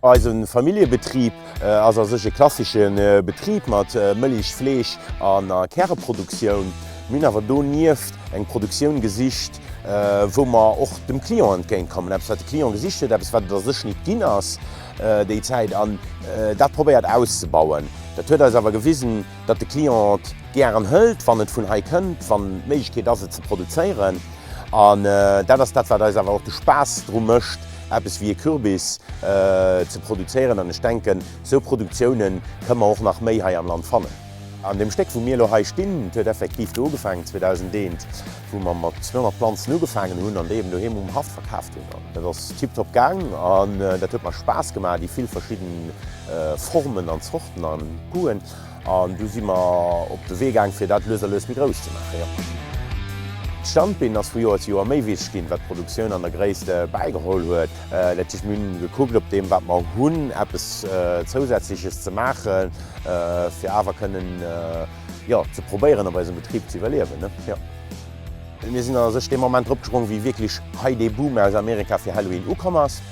Eise Familljebetrib ass a sech e klassesche Betrib mat Mëlich-, Fleesch a Käreproduktioun. Mir hunn awer donieft eng Produktioun gesicht, wou mer och dem Client entgéint kommen. Eppes wat de Client gesicht huet, eppes wat et a sech nit ginn ass déi Zäit an dat probéiert auszebauen. Dat huet eis awer gewisen, datt de Client et gären hëlt, wann et vun hei kënnt, wann d'Méiglechkeet ass, et ze produzéieren. An dat ass dat, wat eis awer och de Spaass dru mécht, eppes wéi e Kürbis ze produzéieren. An ech denken, esou Produktioune kënne mer och nach méi hei am Land fannen. An deem Stéck, wou mir elo hei stinn, et huet effektiv do ugefaangen, 2001, wou mer mat 200 Planzen ugefaangen hunn an déi eben doheem um Haff verkaaft hunn. An dat ass tiptop gaang an dat huet mer Spaass gemaach, déi vill verschidden Formen an Zorten an Goûten. An du si mer op de Wee gaang, fir dat lues a lues méi grouss ze maachen, jo. D'Standbeen ass vu Joer zu Joer méi wichteg ginn, wat d'Produktioun an der Gréisst bäigeholl huet. Dat heescht, mir hunn gekuckt, op deem, wat mer hunn, eppes Zousätzleches ze maachen, fir awer kënnen, Jo, ze probéieren op eisem Betrib ze iwwerliewen, ne? Jo. Mir sinn a sech dee Moment drop gesprongen, wéi wierklech hei dee Boom aus Amerika fir Halloween ukomm ass.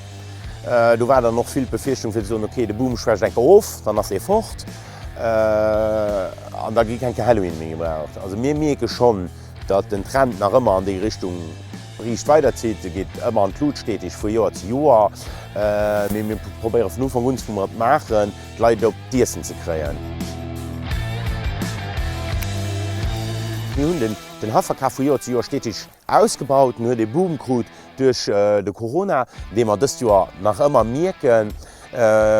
Do war dann och vill d'Befierchtung fir ze soen, ok, de Boom schwächt eng Kéier of, dann ass ee fort an da gi keng Kéier Halloween méi gebraucht. Also mir mierke schonn, datt den Trend nach ëmmer an déi Richtung riicht weiderzitt. E geet ëmmer an d'Lut, steteg vu Joer zu Joer. Mee mir probéiere vun Ufank un, wou mer et maachen, D'Leit op d'Iessen ze kréien. Mir hunn den Hafferkaf vu Joer zu Joer stetig ausgebaut. En huet ee Boom krut duerch de Corona, dee mer dëst Joer nach ëmmer mierken,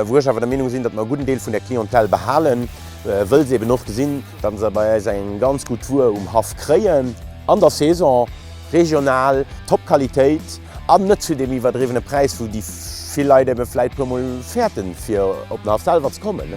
wou ech awer der Meenung sinn, datt mer e gudden Deel vun der Clientèle behalen, wëll se eben och gesinn, datt se bei eis eng ganz gutt Wuer um Haff kréien. An der Saison, regional, Top-Qualitéit. An net zu deem iwwerdriwwene Präis, wou déi vill Leit ebe vläit e puermol fäerten, fir op den Haff selwer ze kommen.